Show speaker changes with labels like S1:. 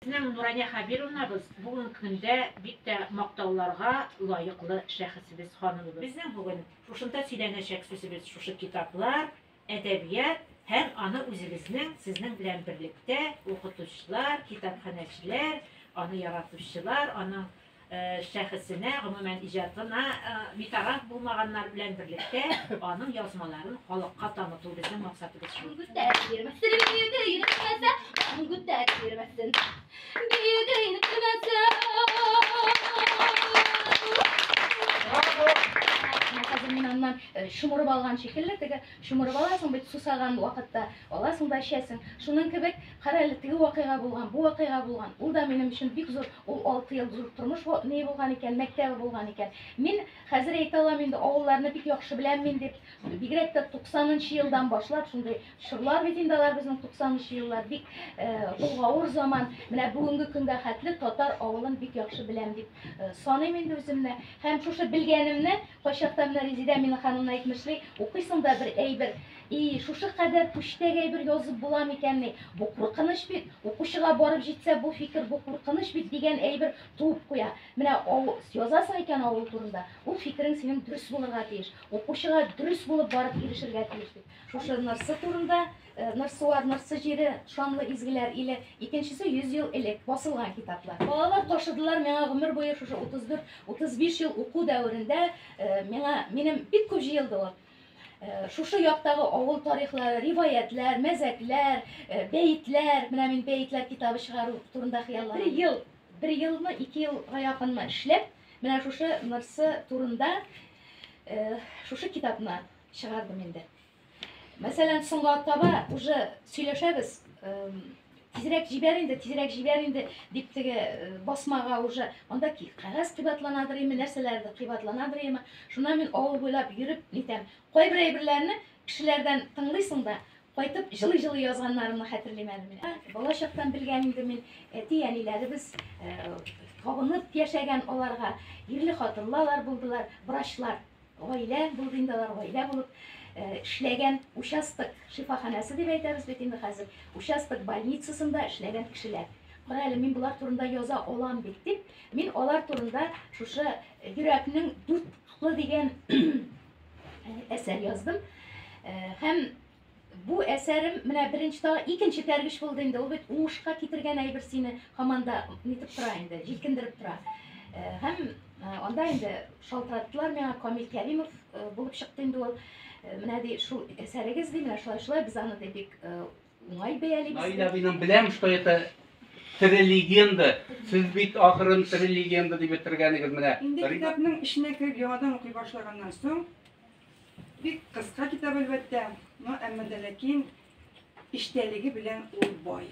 S1: Безнең Нурания Хәбировнабыз бүген көндә бик тә мактауларга лаеклы шәхесебез, ханымыбыз. Безнең бүген шушында сөйләнәчәк сүзебез шушы китаплар, әдәбият һәм аны үзебезнең сезнең белән берлектә укытучылар, китапханәчеләр, аны яратучылар, аның шәхесенә, гомумән иҗатына битараф булмаганнар белән берлектә аның язмаларын халыкка таныту безнең максатыбыз шул. Күтәреп йөрмәсен, биеде йөрмәсә, күтәреп йөрмәсен, биеде
S2: йөрмәсә. Минаннан шомырып алган шикелле, теге шомырып аласың бит сусаган вакытта, аласың да эчәсең. Шуның кебек Кара әле, теге вакыйга булган, бу вакыйга булган. Ул да минем өчен бик зур, ул алты ел зур тормыш ни булган икән, мәктәбе булган икән. Мин хәзер әйтә алам инде, авылларны бик яхшы беләм мин дип. Бигрәк тә 90 нчы елдан башлап шундый чорлар бит инде алар безнең 90 нчы еллар. Бик гавыр заман. Менә бүгенге көнгә хәтле татар авылын бик яхшы беләм дип саныйм инде үземне. Һәм шушы белгәнемне кайчакта менә Резидә Миннехановна әйтмешли, укыйсың да бер әйбер И, шушы кадәр күчтәк әйбер язып була микәнни? Бу куркыныч бит! Укучыга барып җитсә, бу фикер, бу куркыныч бит дигән әйбер туып куя. Менә ау, язасың икән авыл турында, ул фикерең синең дөрес булырга тиеш, укучыга дөрес булып барып ирешергә тиеш бит. Шушы Нырсы турында, э, Нырсуар, Нырсы җире, Шанлы изгеләр иле, икенчесе йөз ел элек, басылган китаплар. Балалар ташыдылар миңа гомер буе шушы 34-35 ел уку дәверендә э, миңа, минем бик күп җыелды ул. Шушы яктагы авыл тарихлары, риваятьләр, мәзәкләр, бәетләр, менә мин бәетләр китабы чыгару турында хыялланам. Бер ел, бер елмы, ике елга якынмы эшләп, менә шушы Нырсы турында шушы китапны чыгардым инде. Мәсәлән, соңга таба уже сөйләшәбез. Тизрәк җибәр инде, тизрәк җибәр инде, дип теге э, басмага уже анда ки кәгазь кыйбатланадыр име, нәрсәләрдер кыйбатланадыр име. Шуннан мин авыл буйлап йөреп нитәм. Кайбер әйберләрне кешеләрдән тыңлыйсың да, кайтып җылы-җылы язганнарымны хәтерлим әле мин. Бала чактан белгән инде мин әти-әниләребез э, табынып яшәгән аларга ирле хатынлылар булдылар, врачлар. Гаилә булды инде алар, гаилә булып эшләгән участок шифаханәсе дип әйтәбез бит инде хәзер, участок больницасында эшләгән кешеләр. Кара әле, мин болар турында яза алам бит дип, мин алар турында шушы йөрәкнең дүрт кытлы дигән әсәр яздым. Һәм Бу әсәрем менә беренче та икенче тәргеш булды инде. Ул бит уңышка китергән әйбер сине һаман да нитеп тора инде, җилкендереп тора. Э, һәм э, анда инде шалтыраттылар миңа Камил Кәримов э, булып чыкты инде ул. Менә ди шул әсәрегез ди, менә шулай шулай без аны ди бик уңай бәялибез. Наилә минем беләм, что
S3: это тере легенда. Сез бит ахырын тере легенда дип бетергәнегез менә. Инде китапның эченә
S4: кереп яңадан укый башлаганнан соң Бик кыска китап, әлбәттә, но әмма дә ләкин иштәлеге белән ул бай.